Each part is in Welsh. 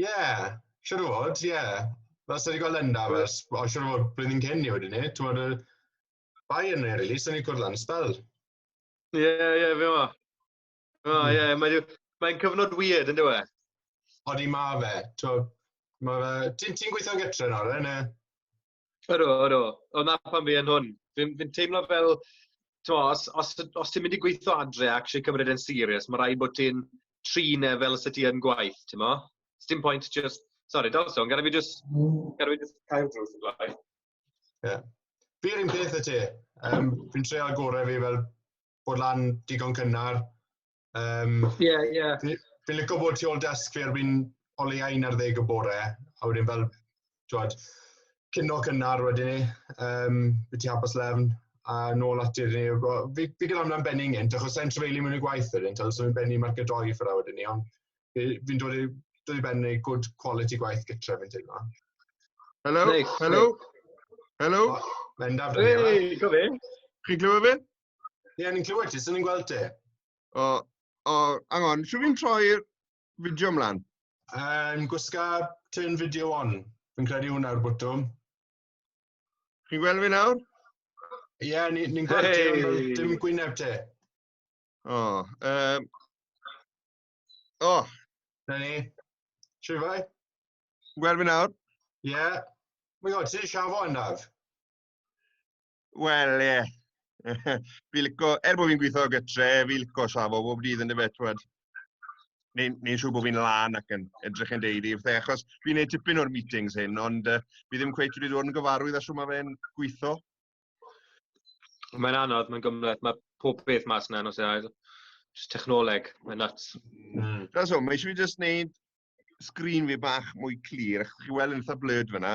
Ie, yeah, siwr o fod, ie. Yeah. Fel sy'n wedi gweld yna, fel, o, siwr o fod, blwyddyn cyn i wedi ni, ti'n bod, y bai yn ei rili, sy'n ei cwrdd lan spel. Ie, yeah, ie, yeah, fe o. O, hmm. ie, mae'n mae cyfnod weird, yn dweud? Odi ma fe, ti'n ma fe, ti'n ti gweithio'n gytre nawr, yn e? Ydw, ydw. O 'na pam fi yn hwn. Fi'n fi'n teimlo fel, timod, os os t- os ti'n mynd i gweithio adre a actually cymryd e'n serious, ma' raid bod ti'n trin e fel 'se ti yn gwaith, timod? Sdim pwynt jyst... Sori, daw'r sôn, gad i fi jyst gad i fi jyst cau'r drws os plaen. Ie. Fi'r un peth a ti. Yym, fi'n treial gore fi fel bod lan digon cynnar, Um, yeah, yeah. Fi'n lygo bod ti ôl desk fi erbyn o leia un ar ddeg y bore, a wedyn fel, twad, cynno cynnar wedyn ni, um, byd ti hapus lefn, a nôl at i'r ni. Fi, fi gyda amla'n benni nghynt, achos sa'n trefeili mewn i gwaith wedyn, tal, so fi'n benni marc y doi ffyrra wedyn ni, ond fi'n dod i, dod i benni good quality gwaith gytre fi'n teimlo. Hello, Nick, hello, Nick. hello. Mendaf, dwi. Hey, go fi. Chi'n glywed fi? Ie, yeah, ni'n clywed ti, so ni'n gweld ti. O, o, angon, siw fi'n troi'r fideo ymlaen? Um, gwisga turn fideo on. Fi'n credu hwnna'r bwtwm. Chi'n gweld fi nawr? Ie, yeah, ni'n ni gweld hey. ti, dim gwyneb ti. O, oh, um, o. Oh. Na ni. Siw fai? Gweld fi nawr? Ie. Yeah. My god, ti'n siafo yna? Wel, ie. Yeah. fi lico, er bod fi'n gweithio o gytre, fi lico safo bob dydd yn dyfe, twed. Neu'n neu siŵr bod fi'n lan ac yn edrych yn deud i fydde, achos fi'n neud tipyn o'r meetings hyn, ond uh, fi ddim cweith wedi dod yn gyfarwydd a siw mae fe'n gweithio. Mae'n anodd, mae'n gymleth, mae pob beth mas yna nos ail. Just technoleg, mae'n nuts. Mm. That's all, mae eisiau fi just neud sgrin fi bach mwy clir, achos chi weld yn eitha blurred fyna,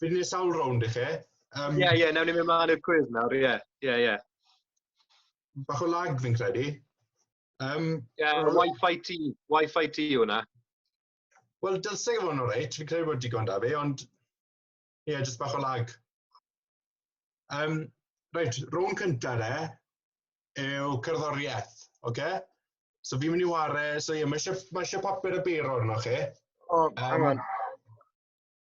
Fi'n gwneud sawl rownd i chi. Um, ie, ie, newn ni mynd mlaen i'r cwydd nawr, ie, ie, ie. Bach o lag fi'n credu. Um, yeah, well, Wi-Fi ti, Wi-Fi ti yw hwnna. Wel, dylse gyfo'n o'r reit, fi'n credu bod digon da fi, ond ie, yeah, jyst bach o lag. Um, reit, rown cyntaf de, yw cerddoriaeth, oce? Okay? So fi'n mynd i ware, so ie, yeah, mae eisiau papur y beiro arno chi. O, oh, um,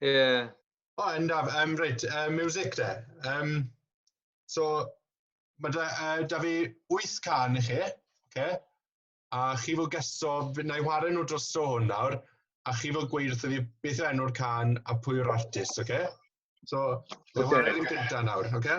Yeah. O, oh, yndaf, um, reit, uh, music de. Um, so, mae da, uh, da fi wyth can i chi, okay? a chi fod gesto, na i wario nhw dros dro hwn nawr, a chi fod gweud wrth fi beth yw enw'r can a pwy yw'r artist, oce? Okay? So, okay. wario ddim gyda nawr, oce? Okay?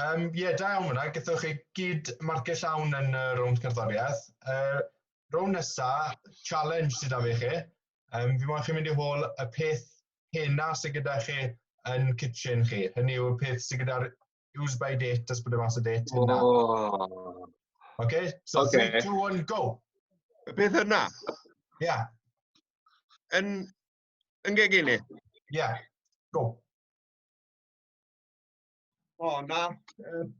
Um, ie, yeah, da iawn fyna, gyda chi gyd marcau llawn yn y rownd cerddoriaeth. Uh, rownd nesa, challenge sydd â fi chi. Um, fi moyn chi mynd i hôl y peth hena sydd gyda chi yn kitchen chi. Hynny yw y peth sydd gyda'r use by date, ys bod y mas o date hynna. Oh. Okay, so okay. 3, 2, 1, go! Y peth hynna? Ie. Yeah. Yn, yn gegini? Ie, yeah. go. O, na. Um,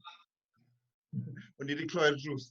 o'n i wedi clywed drws.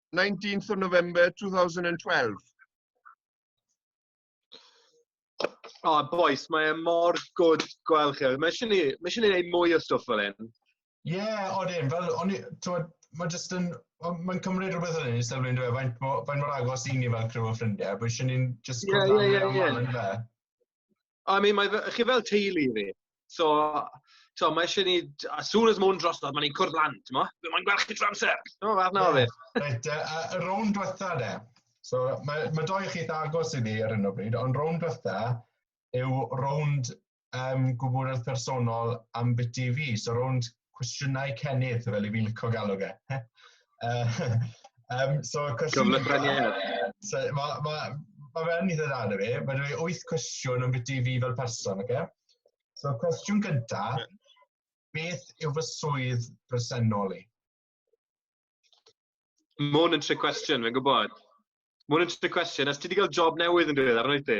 19th of November 2012. O, oh, boys, mae e mor gwrdd gweld chi. Mae eisiau ni, mae eisiau ni wneud mwy o stwff fel hyn. Ie, yeah, odyn, fel, o'n i, mae jyst yn, mae'n cymryd rhywbeth yn ei sylw i'n dweud, faint, faint mor agos i ni fel criw o ffrindiau, bod eisiau ni'n jyst gwrdd yeah, yeah, yeah, yeah. fe. I mean, mae fe... chi fel teulu i fi. So, tibod, mae eisiau ni... as soon as mae hwn drosodd, mae ni'n cwrdd lan, tibod? Fi moyn gweld chi trwy amser! Tibod, fath na o beth. Reit, yy, a y rownd dwetha de. So, mae ma' dou o chi eitha agos i fi ar hyn o bryd, ond rownd dwetha yw rownd yym gwybodeth personol ambiti fi. So rownd cwestiynau cennydd, fel i fi'n licio galw fe. um, so, cwestiwn... So, mae ma, ma fe'n eitha dda na fi. Mae dweud wyth cwestiwn yn biti fi fel person, oce? Okay? So, cwestiwn gyntaf, beth yw fy swydd bresennol i? Mae hwn yn tri cwestiwn, fe'n gwybod. Mae hwn yn tri cwestiwn. Os ti wedi cael job newydd yn diwedd, arno i ti?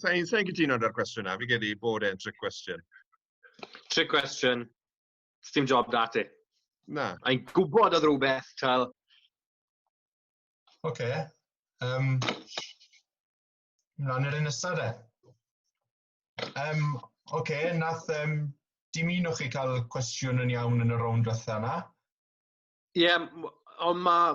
Sa i'n sa i gytuno gyda'r cwestiwn na, fi gedi bod e'n trick cwestiwn. Trick cwestiwn, dim job da ti. Na. A i'n gwybod oedd rhywbeth, tal. Oce. Okay. Um, Mlaen i'r un nesaf de. Um, Oce, okay, nath um, dim un o'ch chi cael cwestiwn yn iawn yn y rownd fatha yna? Ie, yeah, ond mae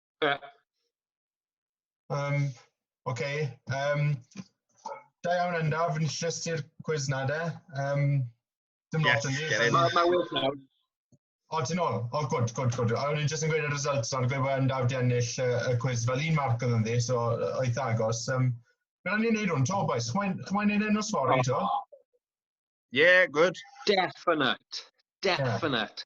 Ie. Um, OK. Um, da iawn yna, fi'n llys i'r cwiz na de. Um, dim lot yn ni. Mae ma well nawr. O, ti'n ôl? O, gwrdd, gwrdd, gwrdd. A o'n i'n jyst yn gweud y results o'r gweud bod yn dawd i ennill y, y cwiz fel un marc oedd yn ddi, so oedd agos. Um, Bydd ni'n neud hwn, to, boys. Chwa'n mae'n neud enw sfori, to? Yeah, good. Definite. Definite. Yeah.